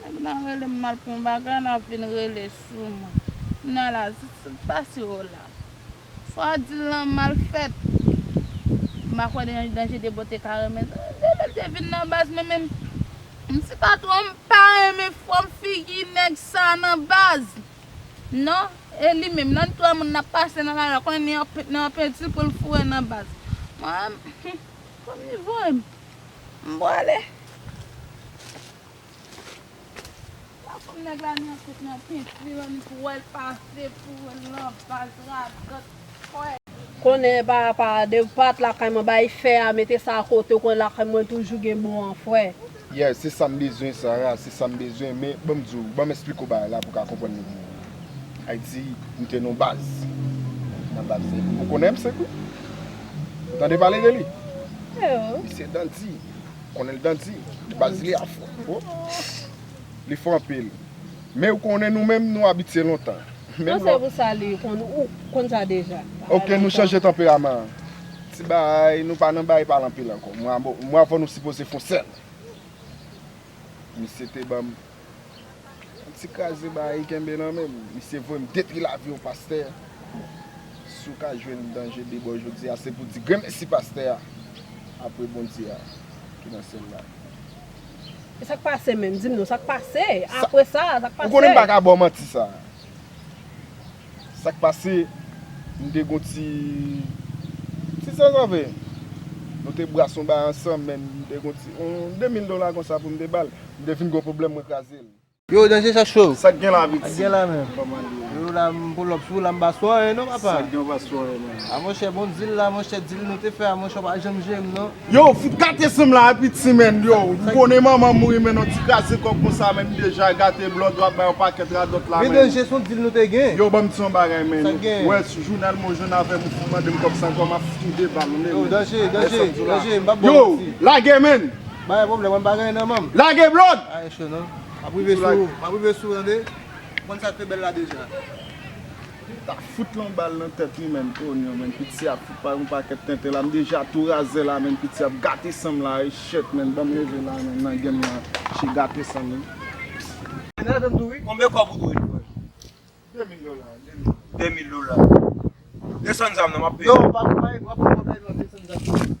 Nèg nan rele m mal pou yon bagay n ap vin rele sou mwen. Kounye a la, sa k pase w la? Sa w ap di l lan mal fèt. M pa kwè gen yon danje Debò te ka renmen sa. Depi l te vin nan baz mwen menm, m si pa twonp m pa renmen fòm figi nèg sa nan baz. Non, e li menm nan n twè moun n ap pase nan lari a konnen nan yon penti pou l foure nan baz. Mwen menm, humm, fòm li voye m. M pwale. La fanm nèg la nan kout nan pint li menm pou wèl pase pou wèl nan baz radòt kwè. Konnen epa apa dew pat lakay mwen bay fè a mete sa akote ou konnen lakay mwen toujou gen bon an frè. Yes se sam bezwen Sarah se sam bezwen men banm diw banm esplike w bagay la pou w ka konprann nèg mwen an Ayiti m te nan baz nan baz ou konenm 5 wi. Ou tande pale de li? Misye dan di. Ou konnen li dan di. Baz li a fò. Li fò anpil. Men ou konnen nou menm nou abitye lontan. Bon se pou sa li konn sa deja. Ok nou chanje tanperaman an. Ti bay nou pa nan bay pale anpil ankò. Mwa fò nou sipoze fon sèl. Misye te banm. Yon ti kraze bayi kenbe nan menm. Misye voyem depi laviw pastè. Si w ka jwenn danje debò jodi a se pou w di gremesi pastè a apre Bondye a ki nan syèl la. E sak pase menm dim non sak pase apre sa sak pase. Ou konnen m paka baw manti sa. Sak pase m te gon ti ti zazave nou te bras yon bay ansanm men m te gon ti yon 2000 dola konsa pou m te bal m te fin gon pwoblèm mwen kraze l. Yo danje sa cho. Sak gen la piti. Sak gen la menm. Kòman li ye. Yo la m pou lòp sou w la m pa sou anyen non papa. Sak gen ou pa sou anyen menm. A monchè bon dil la monchè dil nou te fè a monchè ou pa janm jere m non. Yow fout kate sanm la epi ti menn yow ou konnen manman mouri menn yon ti kraze kò konsa menn deja gate blòd wap bay yon pakèt radòt la menn yow banm di yon bagay menn ou wè ti jounal mwen jwenn avèm ou fout mandem kòb sa ankò map fout ou de bal vle menn yow lage menn lage blòd map rive sou ou map rive sou ou tande ou konn sak te bèl la deja. Li ta fout lon bal nan tèt li menn oh non menn piti ap fout bay on pakèt tenten la m deja tou razè la menn piti ap gate sanm la eh shet menn banm leve la menn nan game la che gate sanm wi. Nèvem tou wi. Konbyen kòb ou dwe li menm? 2000 dola, 2000 dola. Desann zam nan map peye. Non pa pou bay, wap pran bagay nan desann zam nan.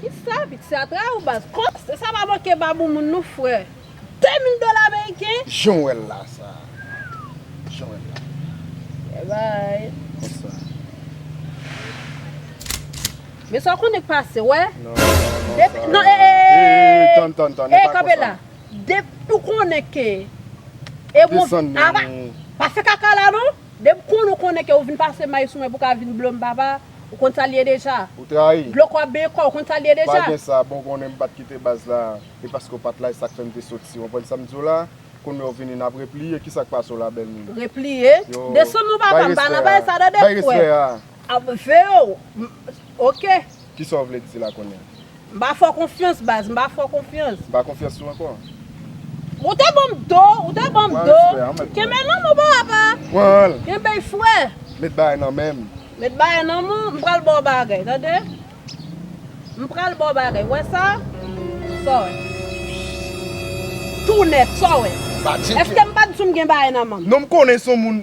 Kisa piti sa tray ou baz. Kont se sa pa manke babou moun nou frè. 2000 dola ameriken. Jan w wè l la sa. Jan w wè l la. Bye bye. Konsa. Men sa w konnen k pase wè. Non sa. Non ee. Ee tann tann tann. Ee kanpe la. Depi w konnen ke. Desann menm. Pa fè kaka la non. Depi w konnen w konnen ke w vin pase may sou mwen pou ka vin blo m papa. Ou konn sa l ye deja. Ou trayi. Dlo kò ap benyen kò, ou konn sa l ye deja. Pa gen sa, bon ou konnen m pa t kite baz la, e paske ou pa t la e sa k fè m te soti. Ou konprann sa m di w la? Kounye a ou vini n ap repliye, kisa k pase w la bèl moun? Repliye? Desann non papa m, m pa nan bagay sa tande, m kwè. Bay respè a. Ap, Veo, m, oke. Kisa w vle di la kounye a? M pa fè w konfyans baz, m pa fè w konfyans. M pa konfyans sou ankò. Ou te banm do, ou te banm do. Pran respè an mèt. Kenbe nan m ou pa apa. Pran l. Kenbe l fre. Met bagay nan men m. Met bagay nan m ou. M pral ba w bagay, tande. M pral ba w bagay. Ou wè sa? Sa w wè? Tou nèf, sa w wè? Sa tcheke. Eske m pa t di w m gen bagay nan men m? Non m konnen son moun.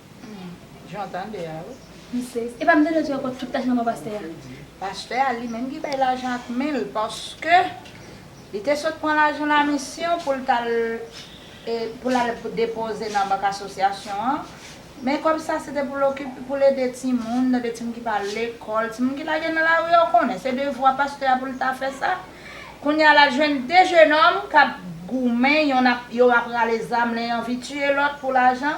Humm jan w tande a wi. M sezi. Epa m tande w di yo pot fout lajan nan men pastè a. Pastè a li menm ki bay lajan ak men l paske li te sot pran lajan lamisyon pou l t al pou l al depoze nan bank asosyasyon an men kòb sa se te pou l okipe pou l ede timoun tande timoun ki pa al lekòl timoun ki lage nan lari a w konnen se devwa pastè a pou l ta fè sa kounye a l al jwenn 2 jenòm k ap goumen yon ap yo ap rale zam len anvi tiye lòt pou lajan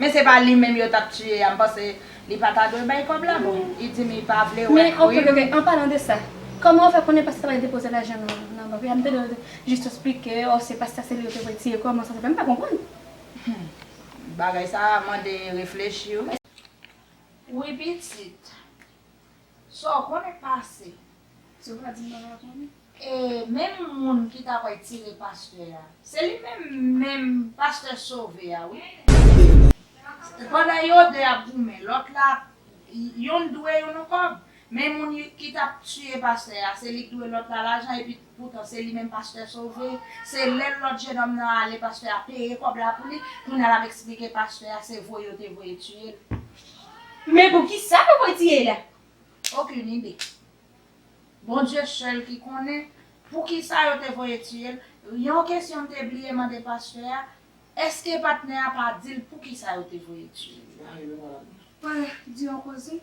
Men se pa li menm yo tap tiye a mpanse li pa ta dwe bay kob la bon li di mi pa vle wè Men ok ok ok an palan de sa Koman ou fè konnen pastè bay depoze lajan nan nan bank la mtande yo jis esplike oh se pastè se li yo te voye tiye koman sa se fè mpa konprann. Humm bagay sa mande reflechi wi. Wi pitit. Sa w konnen pase. Se w k ap di m pa ka konnen? E menm moun ki ta pral tire pastè a. Se li menm menm pastè sove a wi. Pandan yo 2 ap goumen lòt la ap Youn dwe youn on kòb. Men moun ki t ap tiye pastè a se li k dwe lòt la lajan epi Poutan se li menm pastè sove, se lè lòt jenòm nan ale pastè a peye kòb la pou li, kounye a lap eksplike pastè a se voye yo te voye tiye l. Men poukisa yo voye tiye l? Aucune idée. Bondye sèl ki konnen poukisa yo te voye tiye l. Yon kesyon m te bliye mande pastè a, èske patnè a pa di l poukisa yo te voye tiye l? Di yon koze.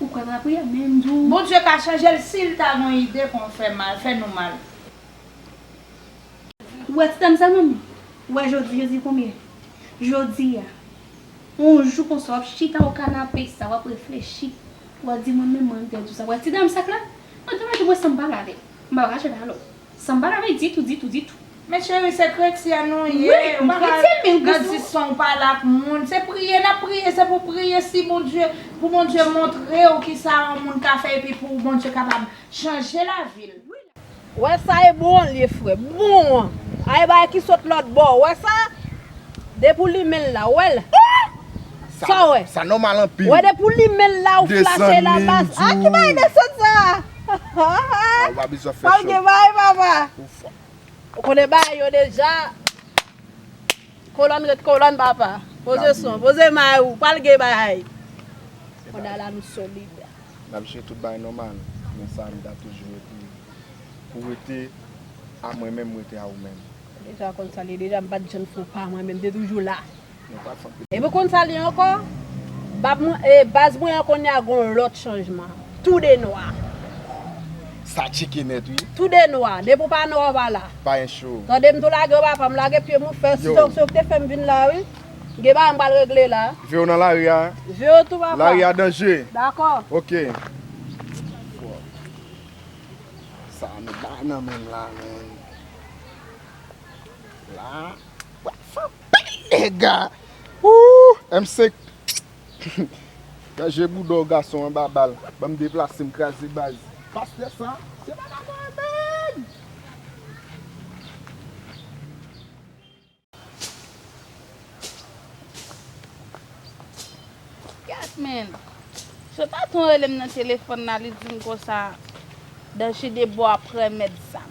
Ou kwè nan lapriyè men m di w. Bondye ka chanje l si l ta gon ide pou m fè mal, fè nou mal. Ou wè ti dam sa menm? Ou wè jodi jodi konbyen? Jodi a. On jou konsa w ap chita o kanape sa w ap reflechi. Ou ap di mwen menm mwen m pèdi w sa. Ou wè ti dam sak la? Mwen tèlman jwe m wè san m pale avè l. M pa pral chita alò. Sanba la vle ditou ditou ditou. Men cheri se kretyen nou ye ou pa ka nan dison ou pale ak moun se priye nap priye se pou priye si bondye pou bondye montrew kisa yon moun ka fè epi pou bondye kapab chanje lavil. Wè sa e bon li ye frè. Bon an e bagay ki sot lòt bò ou wè sa depi ou limenl la ou wèl Ohh sa ou wè Sa nòmal anpil Ou wè depi ou limenl la ou flash el anba a ki bagay desann sa. Ahh ou pa bezwen fè show. Pap gen bagay papa. Ou fò. Ou konnen bagay yo deja. Kolòn ret kolòn papa. Poze son, poze may ou. Pral gen bagay. On a la nou solid. Nap jwe tout bagay nòmal. Men sa nou ta toujou rete. Pou rete a mwen menm rete a ou menm. Ou deja konn sa li ye deja. M pat janm fè w pa mwen menm. M te toujou la. Epi konn sa li ankò? Bab mwen, e baz mwen an kounye a gon lòt chanjman. Tou 2 nwa. Sa tcheke nèt wi. Tou 2 nwa. Depi ou pa nwa ou pa la. Pa en cho. Tande m tou lage ou pa fè m lage pye m ou fè si donksyon ki te fè m vin la wi. Gen bagay m pral regle la. Veo nan lari a. Veo tou papa. Lari a danje. Dakò. Ok. Sa nou bay nan menm la menn. La. Nèga Ooh M5 Chanje boudaw gason anba bal Banm deplasem kraze baz Pastè sa se papa mwen menm Kèt menn Se pa ton relem nan telefòn la li dim konsa Danjide bo ap remèt zam.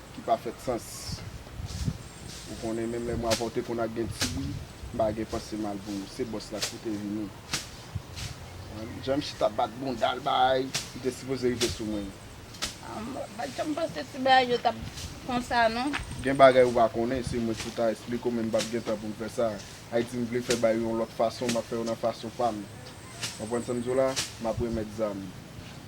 ki pa fèt sans ou konnen menm lè mwa vòte konn ak gen ti bri m pa gen panse mal pou ou se bòs la ki te vini konprann jan misye tap bat boundal bay li te sipoze rive sou mwen ah m pat janm panse ti bagay yo tap konsa non. Gen bagay ou pa konnen se mwen ki pou ta esplike w men m pap gen tan pou m fè sa Ayiti m vle fè bay yo yon lòt fason map fè yo nan fason pam konprann sa m di w la map remèt zam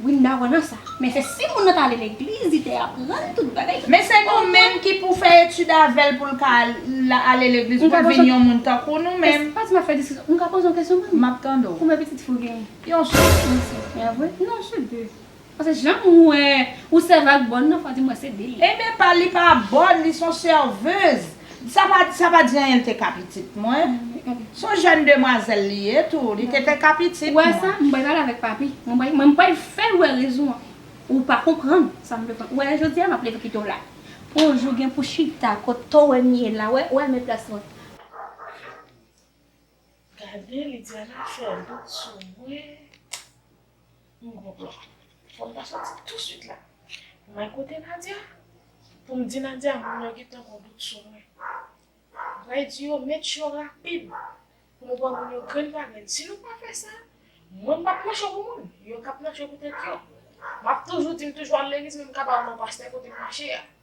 Wi m dakò nan sa. Men se si moun nan ta ale legliz li te aprann tout bagay. Men se nou menm ki pou fè etid avèl poul ka ale legliz poul vin yon moun tankou nou menm. Se pa di map fè diskisyon. M ka poze yon kesyon menm? Map tande w. Konbyen pitit fi w genyen? Yon sèl pitit. Li a vre? Non se 2. Paske janm wè ou sèvi ak bòn nan fwa di m wè se 2 li ye. Enben pa li pa bòn li son serveuse. Sa pa di anyen l te ka pitit mwen. Se yon jèn demwazèl li ye tou. Li te te ka pitit mwen. Ou wè sa? M bay pale avèk papi. M bay m bay fè l wè rezon an. Ou pa konprann sa m bezwen. Ou wè jodi a m ap leve pito la. Pou yon jou gen pou chita kote w wè m ye la. Ou wè m wè m e plas mwen. Gade Lidiana fè dout sou mwen M gon plan Fòm ta soti touswit la M al kote Nadia poum di Nadia moun yo gentan gon dout sou mwen M pral di yo met yo rapid pou nou pran moun yo grenn pa grenn si nou pa fè sa mwen m pap nan cho pou moun yo kap nan cho pou tèt yo Map toujou di m toujou al legliz men m ka pa ou non pastè kote m mache a.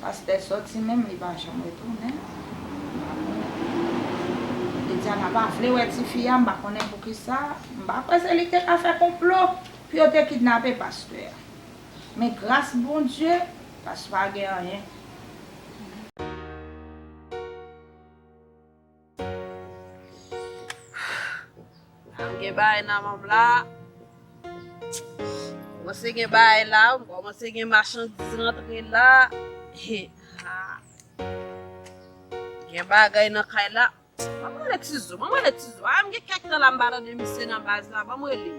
Pastè soti menm li pa janm retounen m pa konnen Bidiana pa vle wè tifi a m pa konnen poukisa m pa kwè se li ki te ka fè konplo pou yo te kidnape pastè a men gras Bondye pastè pa gen anyen. Am gen bagay nan menm la. Kòmanse gen bagay la, kòmanse gen machandiz rantre la. He ha. Gen bagay nan kay la. Banm rele Tizo, banm rele Tizo. Am gen kèk tan la m pa tande misye nan baz la, banm rele l.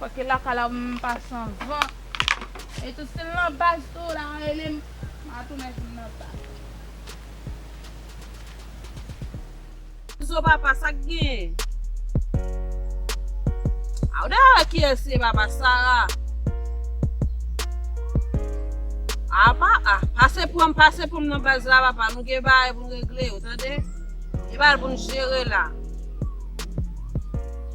Fòke laka la m pa san van. E tou sil nan baz tou la relem ma tounen vin nan baz. Izo papa sak genyen. A ou dwe wè kiyès ye papa sara. Apa a pase pranm pase pranm nan baz la papa nou gen bagay pou n regle yo tande. Gen bagay pou n jere la.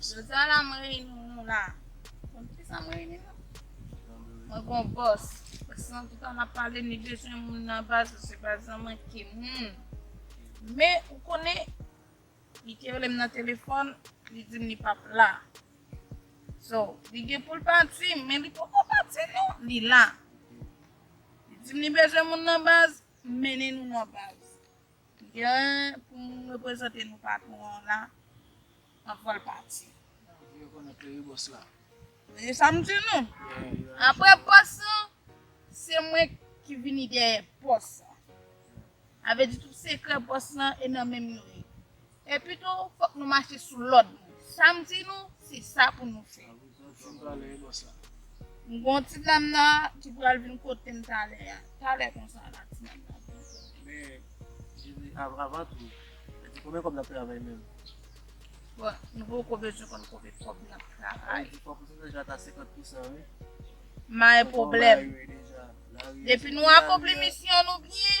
Jodi a la mwen reyini nou la Pou ki sa mwen reyini nou Mwen gon bòs Bòs lan toutan l ap pale li bezwen moun nan baz ou se baz lan manke moun Men ou konnen li te rele m nan telefòn li di m li pap la So li gen pou l pati men li poko pati non li la Li di m li bezwen moun nan baz mennen nou nan baz Gen pou m reprezante nou patron an la anvan l pati. Anvi rekonèt li wi bòs la. Tande sa m di nou. Aprè bòs lan, se mwen ki vini dèyè pòs lan. Sa vle di tout sekrè pòs lan e nan menm yo ye. Epi tou, fòk nou mache sou lòd li. Sa m di nou, se sa pou nou fè. M gen yon ti dam la ki pral vin kote m talè a. Talè konsa la, ti dam nan vin kote m. Bon, nou poko bezwen konn konbe kòb n ap travay. M bay pwoblèm. Depi nou akonpli misyon nou byen.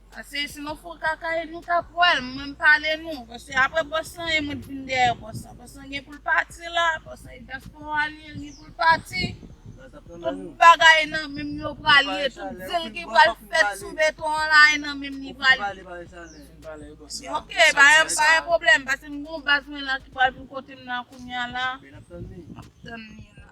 Pase si nou fon kaka e nou ka pwèl mwen m pale nou pase apre bòs lan e mwen t vin dèyè bòs lan bòs lan gen poul pati la bòs lan e diaspora li ye li gen poul pati tout bagay nan menm li yo pral ye tout dil ki pral fèt sou beton an la e nan menm li pral ye ok pa gen pwoblèm pase m gon baz mwen la ki pral vin kotem nan kounya la map tann li la.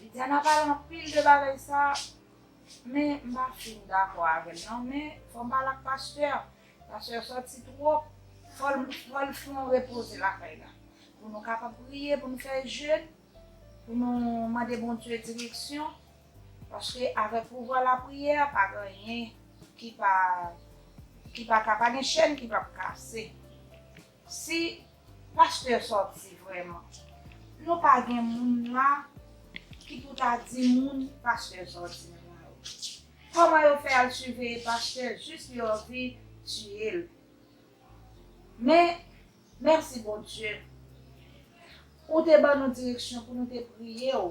Vidiana pale anpil de bagay sa men m pa fin dakò avèl nan men fòm pale ak pastè pastè sòti twòp fòl fè yon repoze lakay la pou nou kapab priye pou nou fè jèn pou nou mande Bondye direksyon paske avèk pouvwa lapriyè pa gen anyen ki pa ka pa gen chèn ki pap kase. Si pastè sòti vrèman. Nou pa gen moun la ki pou ta di moun pastè sòti nan la ri. Koman yo fè al siveye pastè jis li anvi tiyel. Men mèsi Bondye ou te ban nou direksyon pou nou te priyew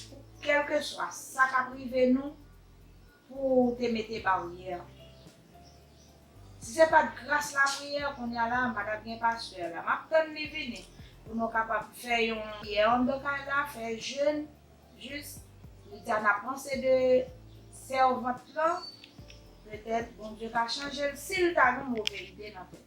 pou kelkeswa sa kap rive nou. Pou ou te mete baryè. Si se pat gras lapriyè kounya la m pa tap gen pastè la map tann li vini pou nou kapab fè yon priyè andan kay la fè jèn jis pita na panse de sèvant lan petèt Bondye ka chanjel sil ta gen move ide nan tèt li.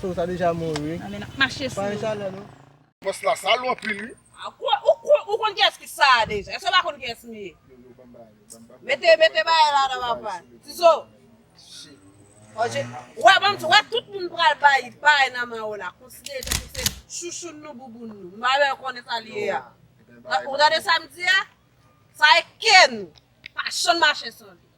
So ou ta deja mouri. Nan men nap mache sou yo. Pale chalè nou. Pòs la sal ou anpil wi. Ou konn kiyès ki sa a deja. Èske ou pa konn kiyès m ye. Mete mete bagay la nan papa. Tizo. Ou wè banm di ou wè tout moun pral bay bagay nan men ou la. Konsidere l tankou se chouchoun nou bouboun nou. M pa vle konnen sa l ye a. Ou tande sa m di a. Sa e ken ou. Pa janm mache san li.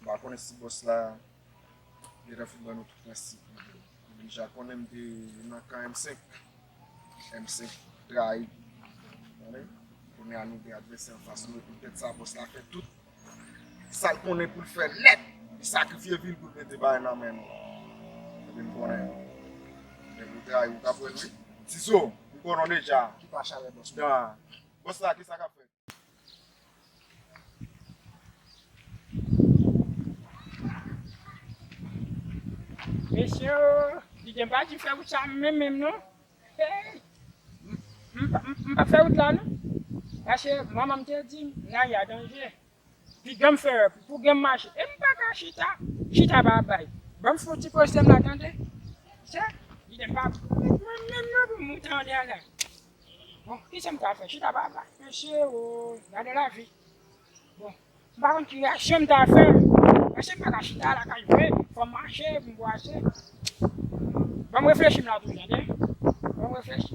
M pa konnen si bòs la gentan fin ban nou tout prensip li yo. M deja konnen m te nan kan M5. M5 trayi nou. Kounye a nou gen advèsè anfas nou e poutèt sa bòs la fè tout sa l konnen pou l fè nèt. Li sakrifye vi l pou l mete bagay nan men nou. Epi m konnen lè nou trayi ou t ap wè l wi. Tizo, m konnen w deja. Ki pa chalè bòs la? Bòs la kisa k ap fèt? Mesye li gen bagay li fè wout sa m renmen l non m pa fè wout la non paske manman m te di m la ri a danje piga m fè pou gen m mache e m paka chita chita pa bay ban m fouti poze m la tande se li gen bagay li fè wout mwen m renmen l non pou m wout anlè a la. Bon kijan m ka fè chita pa plas mesye ooh gade lavi bon m pa konn ki reyaksyon m ta fè mesye m pa ka chita lakay vre fò m mache pou m bwase banm reflechi m la tou tande banm reflechi.